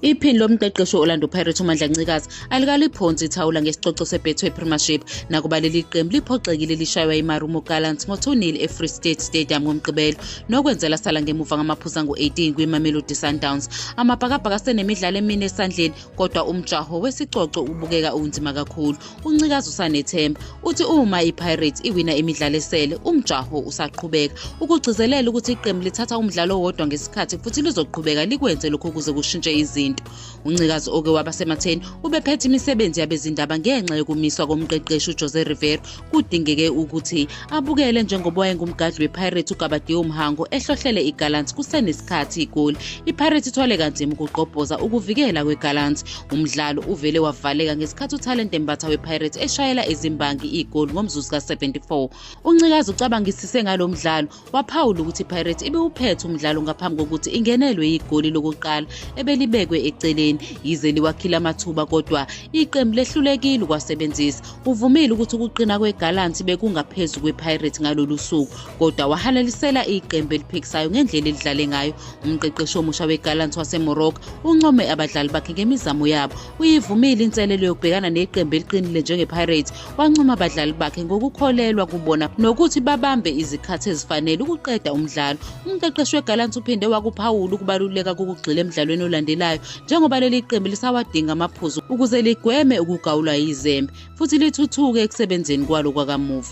Iphini lomqeqeshi we-Orlando Pirates uMandla Ncikazi alikaliphonsi ithawula ngesicoco seBetway Premiership nakuba leli qembu liphoxekile lishaywa iMarumo Gallants ngo-2-0 eFree State Stadium ngoMgqibelo nokwenze lasala ngemuva ngamaphuzu angu-18 kwiMamelodi Sundowns. Amabhakabhaka asenemidlalo emine esandleni kodwa umjaho wesicoco ubukeka unzima kakhulu. uncikazi usanethemba uthi uma ipirates iwina imidlalo esele umjaho usaqhubeka ukugcizelela ukuthi iqembu lithatha umdlalo owodwa ngesikhathi futhi lizoqhubeka likwenze lokhu ukuze kushintshe izinto uncikazi oke waba sematheni ubephethe imisebenzi yabezindaba ngenxa yokumiswa komqeqeshi ujose rivero kudingeke ukuthi abukele njengoba wayengumgadli wepirates ugabadiyo mhango ehlohlele igallant kusenesikhathi igoli ipirates ithwale kanzima ukugqobhoza ukuvikela kwegallant Umdlalo uvele wavaleka ngesikhathi uThalente Mbatha wePirates eshayela izimbangi igoli ngomzuzu ka-74. UNcikazi ucabangisise ngalo mdlalo waphawula ukuthi iPirates ibiwuphethe umdlalo ngaphambi kokuthi ingenelwe igoli lokuqala ebelibekwe eceleni yize liwakhile amathuba kodwa iqembu lehlulekile ukwasebenzisa. Uvumile ukuthi ukuqina kweGallants bekungaphezu kwePirates ngalolu suku kodwa wahalalisela iqembu eliphikisayo ngendlela elidlale ngayo umqeqeshi omusha wegallant wasemorocco uncome abadlali bakhe ngemizamo yabo uyivumile inselelo yokubhekana neqembu eliqinile njengepirates wancoma abadlali bakhe ngokukholelwa kubona nokuthi babambe izikhathi ezifanele ukuqeda umdlalo umqeqeshi wegallant uphinde wakuphawula ukubaluleka kokugxila emdlalweni olandelayo njengoba leli qembu lisawadinga amaphuzu ukuze ligweme ukugawulwa yizembe futhi lithuthuke ekusebenzeni kwalo kwakamuva